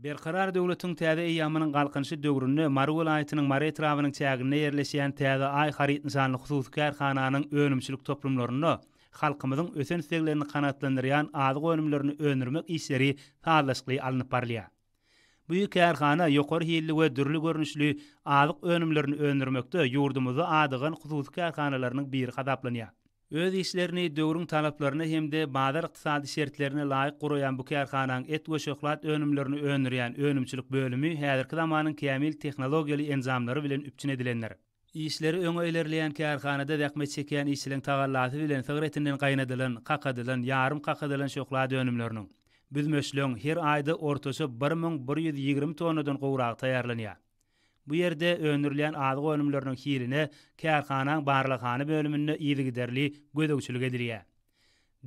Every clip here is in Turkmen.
Berkarar döwletiň täze eýýamynyň Galkynyşy döwründe Mary welaýatynyň Mary etrabynyň çäginde ýerleşýän Täze Aý haryt nyşanly hususy kärhananyň önümçilik toplumlarynda halkymyzyň ösen isleglerini kanagatlandyrýan azyk önümlerini öndürmek işleri sazlaşykly alnyp barylýar. Bu kärhana ýokary hilli we dürli görnüşli azyk önümlerini öndürmekde ýurdumyzda adygan hususy kärhanalarynyň biri hasaplanýar. Öz işlerini döwrüň talaplaryna hem-de bazar ykdysady şertlerine laýyk guraýan bu kärhananyň et we şöhlat önümlerini öndürýän önümçilik bölümi häzirki zamanyň kämil tehnologiýaly enjamlary bilen üpjün edilendir. Işleri öňe ilerleýän kärhanada zähmet çekýän işçiliň tagallasy bilen sygyr etinden gaýnadylan, kakadylan, ýarym kakadylan şöhlat önümleriniň, büzmeçleň, her aýda ortaça bir müň bir ýüz ýigrimi tonnadan gowragy taýýarlanýar. Bu ýerde öndürilýän azyk önümleriniň hiline kärhanaň barlaghana bölüminde yzygiderli gözegçilik edilýär.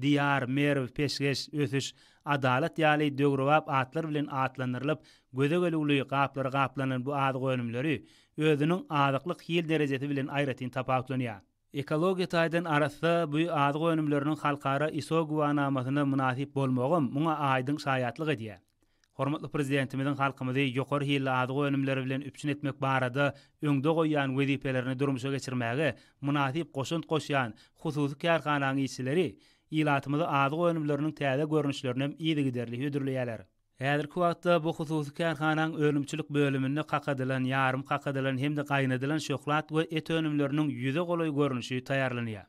Diýar, Merw, Peşgeş, Ösüş, Adalat ýaly döwrebap atlar bilen atlandyrylyp, göze gelüwli gaplara gaplanan bu azyk önümleri özüniň azyklyk hil derejesi bilen aýratyn tapawutlanýar. Ekologiýa taýdan arassa bu azyk önümleriniň halkara ISO güwanamasyna mynasyp bolmagam muňa aýdyň şaýatlyk edýär. Hormatly Prezidentimiziň halkymyzy ýokary hilli azyk önümleri bilen üpjün etmek barada öňde goýýan wezipelerini durmuşa geçirmäge mynasyp goşant goşýan hususy kärhananyň işçileri ilatymyzy azyk önümleriniň täze görnüşlerinem yzygiderli hödürleýärler. Häzirki wagtda bu hususy kärhanaň önümçilik bölüminde kakadylan, ýarym kakadylan hem-de gaýnadylan şöhlat we et önümleriniň ýüze golaý görnüşi taýýarlanýar.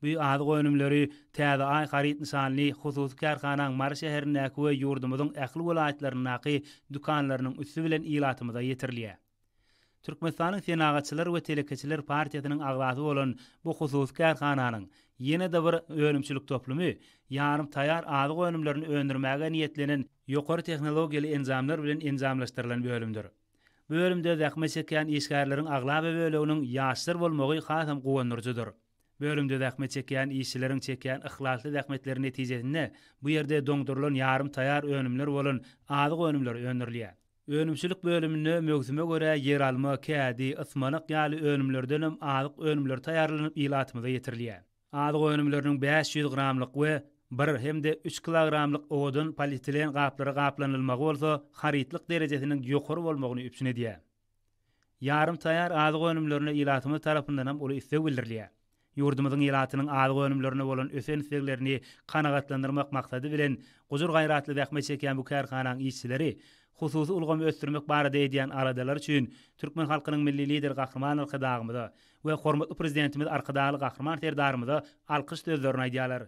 Bu azyk önümleri Täze Aý haryt nyşanly hususy kärhanaň Mary şäherindäki we ýurdumyzyň ähli welaýatlaryndaky dükanlarynyň üsti bilen ilatymyza ýetirilýär. Türkmenistanyň Senagatçylar we telekeçiler partiýasynyň agzasy bolan bu hususy kärhananyň ýene-de bir önümçilik toplumy ýarym taýýar azyk önümlerini öndürmäge niýetlenen ýokary tehnologiýaly enjamlar bilen enjamlaşdyrylan bölümdir. Bu bölümde zähmet çekýän işgärleriň aglaba böleginiň ýaşlar bolmagy hasam guwandyryjydyr. Bölümde zähmet çekýän işçileriň çekýän yhlasly zähmetleri netijesinde bu ýerde doňdurylan ýarym taýýar önümler bolan azyk önümleri öndürilýär. Önümçilik bölüminde möwsüme görä ýeralma, kädi, ysmanak ýaly önümlerdenem azyk önümleri taýýarlanyp ilatymyza ýetirilýär. Azyk önümleriniň bäş ýüz gramlyk we bir hem-de üç kilogramlyk owadan polietilen gaplara gaplanylmagy bolsa harytlyk derejesiniň ýokary bolmagyny üpjün edýär. Ýarym taýýar azyk önümlerine ilatymyz tarapyndanam uly isleg bildirilýär. Ýurdumyzyň ilatynyň azyk önümlerine bolan ösen isleglerini kanagatlandyrmak maksady bilen, gujur-gaýratly zähmet çekýän bu kärhanaň işçileri hususy ulgamy ösdürmek barada edýän aladalary üçin türkmen halkynyň Milli Lideri Gahryman Arkadagymyza we hormatly Prezidentimiz Arkadagly Gahryman Serdarymyza alkyş sözlerini aýdýarlar.